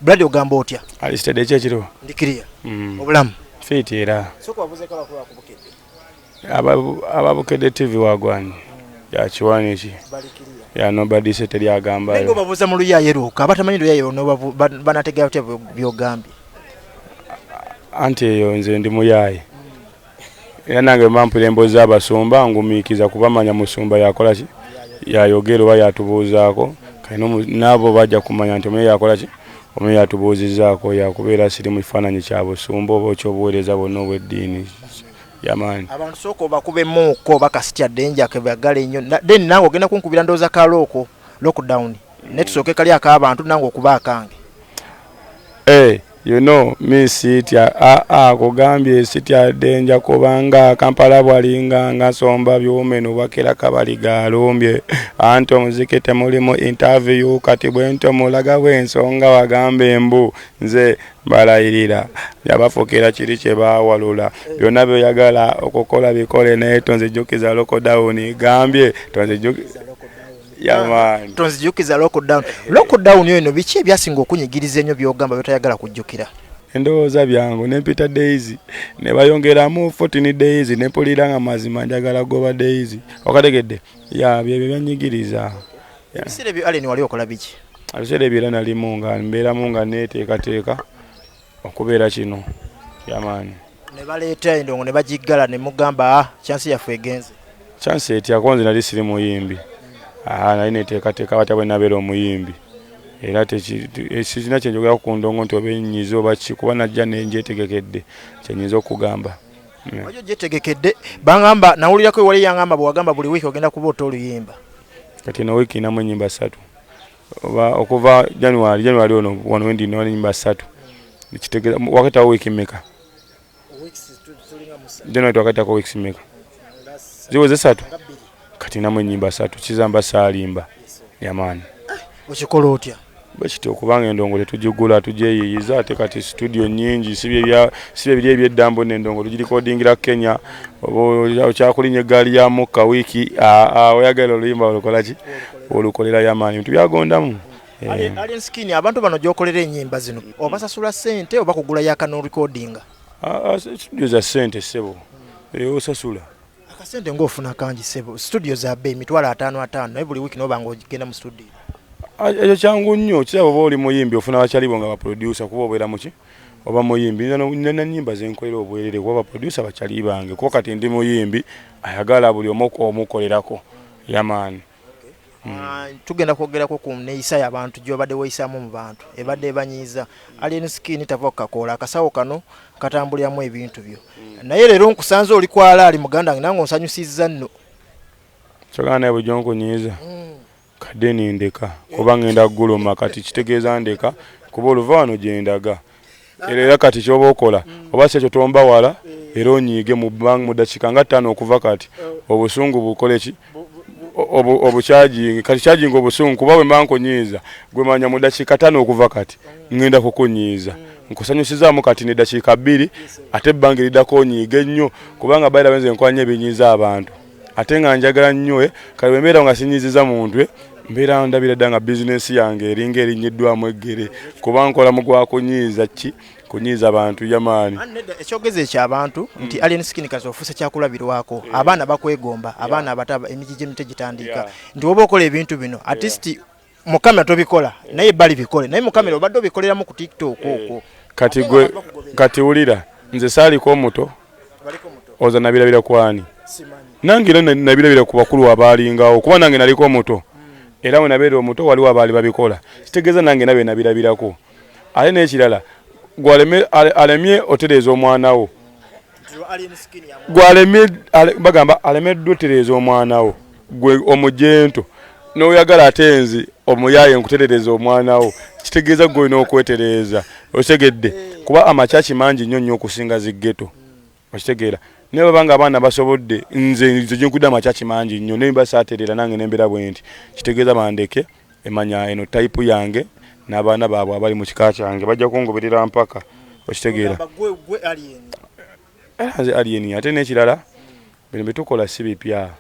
Brad ogamba otya? Ali steady kye kiro. Ndi clear. Mm. Obulamu. Fit era. Soko abuze kala kwa kubukede. Ababu ababukede TV wagwani. Mm. Ya chiwani chi. Bali clear. Ya nobody said teri agamba. Nengo babuza mu luya yero. Kabata manyi luya yero nobabu banatega otya byo gambi. Ante yo nze ndi muyaye. era nange bwe bampulira emboozi z'abasumba ngumiikiza kuba manya musumba yakola ki yayogera oba yatubuuzaako kati n'abo bajja kumanya nti omuye yakola ki omuye yatubuuzizzaako yakubeera siri mu kifaananyi kya busumba oba ekyobuweereza bwonna obw'eddiini yamaani abantu sooka obakuba emmuukko oba kasitya dde njake bagala ennyo then nange ogenda kunkubira ndowooza ka looko lockdown naye tusooke kali ak'abantu nange okuba akange eh. You know me sitya aa ah, ah, kugambye sitya denja kubanga kampala bwalinga nga nsomba byume nubakira kabaliga alumbye anti omuziki temulimu interview kati bwento mulaga bwensonga wagamba embu nze balayirira yabafukira kiri kye baawalula byonna byoyagala okukola bikole naye tonzijukiza lokodawuni gambye tonzijukiza yamaani tonzijukiza lockdown lockdown oyo no biki ebyasinga okunyigiriza enyo byogamba byotayagala kujjukira endowooza byangu nempita days nebayongeramu 14 days nepulira nga mazima njagala goba days okategedde ya byebyo byanyigiriza ebiseera ebyo aleni wali okola biki ebiseera ebyo era nalimu nga mbeeramu nga neteekateeka okubeera kino yamaani ne baleeta endongo ne bagiggala ne mugamba ah, chansi yaffe egenze chansi etya konze nali siri muyimbi ah, nali neteekateeka batya bwe nabeera omuyimbi era eh, sirina kyenjogera ku ndongo nti oba enyiza oba ki kuba najja nenjetegekedde kyenyinza okugamba hmm. ojo jetegekedde bangamba nawulirako ewali yangamba bwewagamba buli wiiki ogenda kuba ota oluyimba kati no wiiki inamu enyimba satu oba okuva january january ono wano wendi nina enyumba satu kitegeza wakatawo wiiki mmeka january twakatako wiiki mmeka ziweze satu kati namu enyimba satu kizamba saalimba yamaani okikola otya bwekiti okubanga endongo tetugigula tugyeyiyiza ate kati situdio nyingi si byebiri ebyeddambo nendongo tugirikodingira kenya okyakulinya eggaali ya mukka wiiki oyagala oluyimba olukolaki olukolera yamaanyi bintu byagondamu eh. Alien Skin, abantu bano gyokolera enyimba zino obasasula sente oba kugula yaka norecordinga? Ah, ah, studio za sente sebo eh, osasula akasente ngaofuna kangi sebo studio za bei mitwalo ataano ataano naye buli wiiki nobanga ogenda mu studio ah, ekyo kyangu nnyo kiraba oba oli muyimbi ofuna bakyalibo nga baproducer kuba obeera muki oba muyimbi nina nyimba zenkolera obwerere kuba baproducer bakyali bange kuba kati ndi muyimbi ayagala buli omu omukolerako Yeah man. Ah, tugenda kwogerako ku neeyisa yabantu gyobadde weeyisamu mu bantu ebadde ebanyiiza alien skin tava kukakoola akasawo kano katambuliramu ebintu byo mm. naye leero nkusanze oli kwala ali muganda nge nange onsanyusizza nno kyogana naye bujo nkunyiiza mm. kadde nindeka kuba ngenda kuguluma kati kitegeeza ndeka kuba oluva wano gyendaga era era kati kyoba okola mm. oba kyekyo tomba wala eh. era onyiige mu bang mu dakika nga ttaano okuva kati eh. obusungu bukole ki obukyajingi kati kyajinga obusungu kuba bwe manko nyiiza gwe manya mu dakika ttaano okuva kati mm. ngenda kukunyiiza mm. nkusanyusizaamu kati ne dakika bbiri ate ebbanga eridako onyiige nnyo kubanga bayira benze nkwanya ebinyiiza abantu ate nga njagala nnyo eh, kale bwe mbeera nga sinyiziza muntu eh, mbeera ndabira dda nga bizinensi yange eringa erinyiddwamu eggere kuba nkola mu gwa kunyiiza ki kunyiiza bantu yamaani ekyogezi ekyo abantu hmm. nti alien skin kazi ofuuse kyakulabirwako abaana bakwegomba abaana abato emiji gy'emite gitandika nti woba okola ebintu bino atisti mukamera tobikola naye bali bikole naye mukamera obadde obikoleramu ku tiktok eh, okwo kati gwe kati wulira nze saaliko omuto oza nabirabira kwani nange era nabirabira ku bakulu abaalingawo kuba nange naliko omuto hmm. era wenabeera omuto waliwo abaali babikola kitegeeza nange nabye nabirabirako ate n'ekirala gwalemye alemye otereeza omwana wo bagamba alemeddwa otereeza omwana wo gwe omujento noyagala ate nzi omuyaye nkuterereza omwana wo kitegeeza gwe olina okwetereeza okitegedde eh. kuba amakyaki mangi nnyo nnyo okusinga ziggeto okitegeera naye baba nga abaana basobodde nze nze gyenkudde amakyaki mangi nnyo naye basaaterera nange nembeera bwe nti kitegeeza bandeke emanya eno type yange n'abaana baabwe abali mu kika kyange bajja kungoberera mpaka okitegeera era nze alien ate n'ekirala bino bye tukola si bipya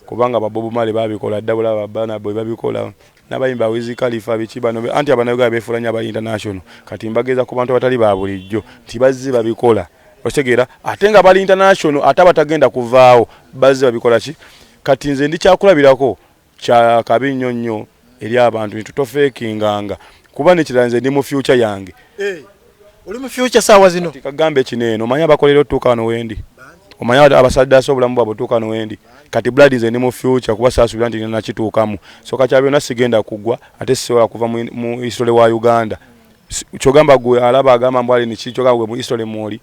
kubanga babobu male babikola dda bulaba baana bwe babikola n'abayimba wizi kalifa biki bano anti abanayuganda beefuula nnyo aba international kati mbageeza ku bantu abatali ba bulijjo nti bazze babikola okitegeera ate nga bali international ate abatagenda kuvaawo bazze babikola ki kati nze ndikyakulabirako kya kabi nnyo nnyo eri abantu nti tofeekinganga kuba nekirala nze ndi mu fyuca yange eh, oli mu fyuca saawa zino kagambe kino eno omanya abakolera otuuka wano wendi omanya abasaddaasa obulamu bwabwe otuuka wano wendi kati blood nze ndi mu fyuca kuba saasubira nti nina nakituukamu so kakya byonna sigenda kugwa ate sisobola kuva mu isole wa uganda kyogamba gwe alaba agamba mbwali niki kyogamba gwe mu isole mwoli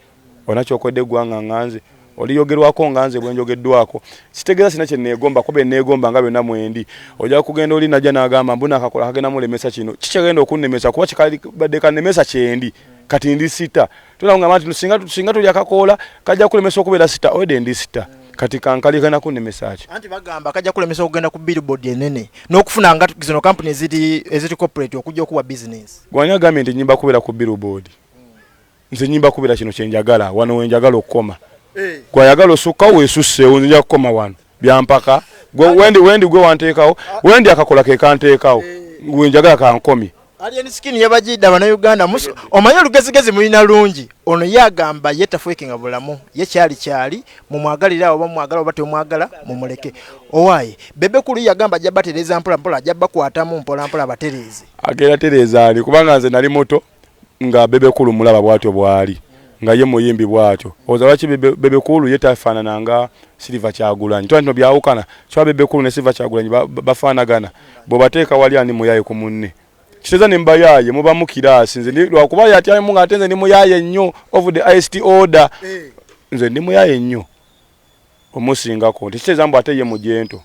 Olina kyokoledde eggwanga nga nze, oliyogerwako nga nze bwenjogeddwako. Sitegeeza sina kyenneegomba kuba byenneegomba nga byonna mwendi. Ojja kugenda oli najja n'agamba mbu Nakakola kagenda mulemesa kino. Ki kyegenda okunnemesa kuba kikadibadde kannemesa kyendi. Kati ndi sita. Tugenda kungamba nti singa, singa tulya kakoola kajja kulemesa okubeera sita. Already ndi sita. Kati kankalye kagenda kunnemesa ki? Anti bagamba kajja kulemesa okugenda ku billboard enene n'okufuna nga zino kampuni eziri, eziri corporate okujja okuwa bizinensi. Gwe ani agambye nti nnyimba kubeera ku billboard? nze nyimba kubira kino kyenjagala wano wenjagala okukoma eh. gwayagala osukka wesusseewo nze nja kukoma wano byampaka wendi wendi gwe wanteekawo wendi akakola kekanteekawo eh. wenjagala kankomye Alien skin yabajidda bana Uganda musu omanyi olugezigezi mulina lungi ono yagamba ye tafwekinga bulamu ye kyali kyali mumwagalira oba mwagala oba temwagala mumuleke owaye bebe kulu yagamba ajja batereza mpola mpola ajja bakwatamu mpola mpola batereze agera tereza ali kubanga nze nali moto nga bebe kulu mulaba bwatyo bwali nga ye muyimbi bwatyo oza lwaki bebe kulu ye tafanana nga silver kyagulanyi twa ntino byawukana kya bebe kulu ne silver kyagulanyi bafanagana bwobateeka wali ani muyaye ku munne kiteza ne mbayaye muba mukirasi nze ndi lwakuba yati ayi munga atenze ndi muyaye nnyo of the ist order eh. nze ndi muyaye nnyo omusingako nti kitegeeza mbu ate ye mujento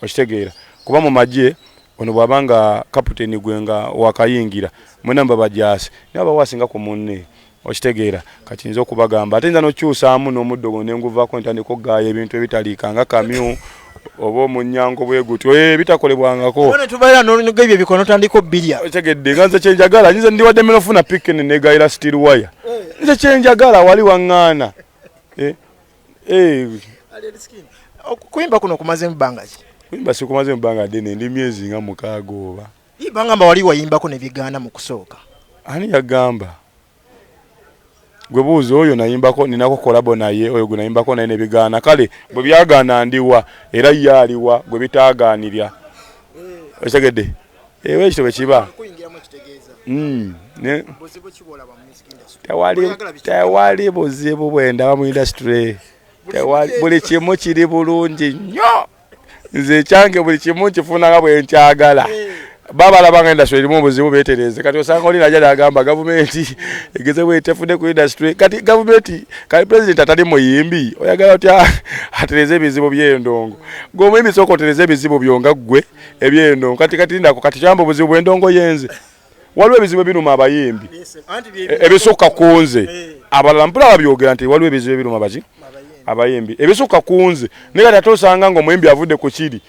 okitegeera kuba mu magye ono bw'aba nga kaputeni gwe nga wakayingira mwena muba bajaasi naye abawo asinga ku munne okitegeera kati nze okubagamba ate nza n'okukyusaamu n'omuddo guno ne nguvaako ne ntandika okugaaya ebintu ebitaliika nga kamyu oba omunyango bwe gutyo eh, ebitakolebwangako ne tubeera n'onoga ebyo ebikola n'otandika obbirya otegedde nga nze kyenjagala nyize ndiwadde mera ofuna pikini negayira steel wire eh. nze kyenjagala wali waŋŋaana eh, Eh. Okuyimba kuno kumaze mbanga ki? Kuyimba sikumaze mbanga dene ndi myezi nga mukaaga oba. Ibanga mba wali wayimbako ne bigana mu kusooka. Ani yagamba? Gwe buuza oyo nayimbako ninako kolabo naye oyo gwe nayimbako naye ne bigana kale bwe byagana ndiwa era ye aliwa gwe bitaaganirya. Eh. Okitegedde? Ewe eh, ekyo bwe kiba. Kuyingiramu ekitegeeza. Mm. Ne. Buzibu kibola bamu. tewali buzibu bwendaba mu industry buli kimu kiri bulungi nnyo nze ekyange buli kimu nkifunanga bwenkyagala babalabanga industry erimu obuzibu betereze kati osanga oli naja nagamba gavumenti egeze bwetefudde ku industry kati gavumenti kati president atali muyimbi oyagala otya atereze ebizibu byendongo gwe omuyimbi sooka otereze ebizibu byo nga ggwe ebyendongo kati kati ndako kati kyamba obuzibu bwendongo yenze waliwo ebizibu ebiruma abayimbi e, ebisukka kunze eh. abalala mpula babyogera nti waliwo ebizibu ebiruma baki abayimbi ebisukka kunze naye kati ate osanga nga omuyimbi avudde ku kiri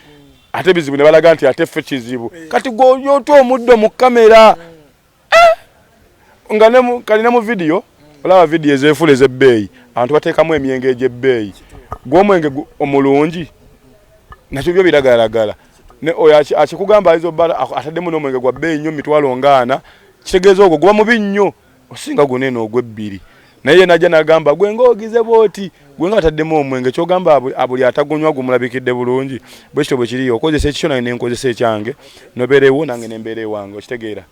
ate ebizibu ne balaga nti ate ffe kizibu eh. kati gwoyota omuddo mu kamera hmm. eh! nga kalina mu vidiyo hmm. olaba vidiyo ezefula ezebbeeyi abantu bateekamu emyenge egyebbeeyi gwomwenge omulungi nakyo byo biragalagala ne oyo akikugamba ayinza obala ataddemu n'omwenge gwa bbeeyi nnyo mitwalo ngaana kitegeeza ogwo guba mubi nnyo osinga guna eno ogw'ebbiri naye ye najja nagamba gwe ngaogize bwoti gwe nga ataddemu omwenge kyogamba buli atagunywa gumulabikidde bulungi bwe kityo bwe kiriyo okozesa ekikyo nange nenkozesa ekyange nobeerewo nange nembeera ewange okitegeera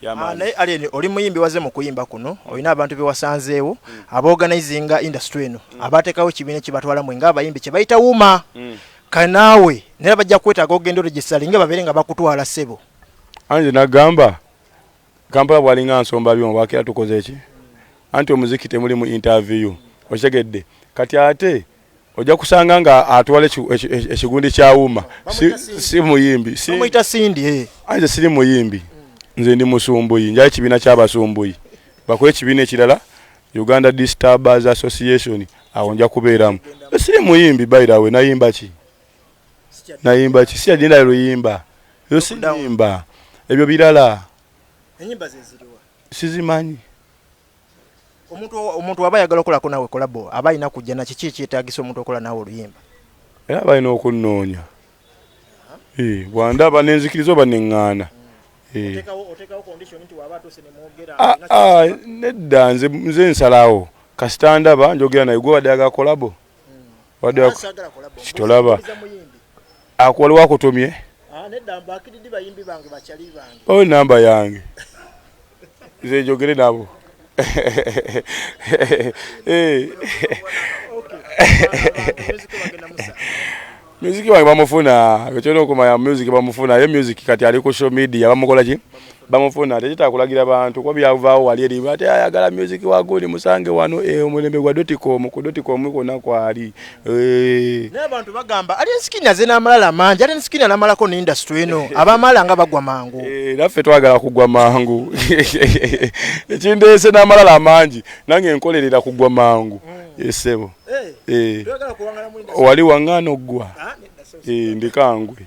Ah, naye alien oli muyimbi waze mu kuyimba kuno olina abantu bewasanzeewo mm. abaorganizinga industry eno mm. abatekawo ekibiina kyebatwala mwe ngaabayimbi kyebayita wuma mm. Kale naawe nera bajja kwetaaga ogenda oregisali nga babeere nga bakutwala ssebo. Anze nagamba Kampala bwalinga nsomba byuma bwakera tukoze ki? Anti omuziki temuli mu interview okitegedde kati ate ojja kusanga nga atwala ekigundi kya wuma si muyimbi omuyita sindi eh. anze siri muyimbi nze ndi musumbuyi njayo ekibiina ky'abasumbuyi bakuba ekibiina ekirala Uganda Disturbers Association awo nja kubeeramu siri muyimbi by the way nayimba ki nayimba ki sija jinda luyimba yo siyimba ebyo birala enyimba zeziriwa sizimanyi omuntu omuntu waba yagala okola ko nawe kolabo aba ina kujja na kiki ekyetagisa omuntu okola nawe oluyimba era balina okunoonya bwandaba nenzikiriza oba neŋŋaana Eh. Ah, ah, nedda nze nsalawo kasita ndaba njogera naye gwe wadde agakolabo hmm. kitolaba akwaliwo akutumye ah, oyo oh, namba yange nze njogere nabo music wange bamufuna ekyona okumanya music bamufuna aye music kati ali ku show media bamukola ki bamufuna tekitaka kulagira bantu kuba byavaawo wali eri ati ayagala music wagundi musange wano e, omulembe gwa doticom ku doticom kwona kwali Eh. naye abantu bagamba ali ensikini aze n'amalala mangi ali ensikini anamalako ne industry eno abamala nga bagwa mangu eh, naffe twagala kugwa mangu ekindeese n'amalala amangi nange nkolerera kugwa mangu mm. esebo eh, wali wang'ana oggwa ah, ndikangwe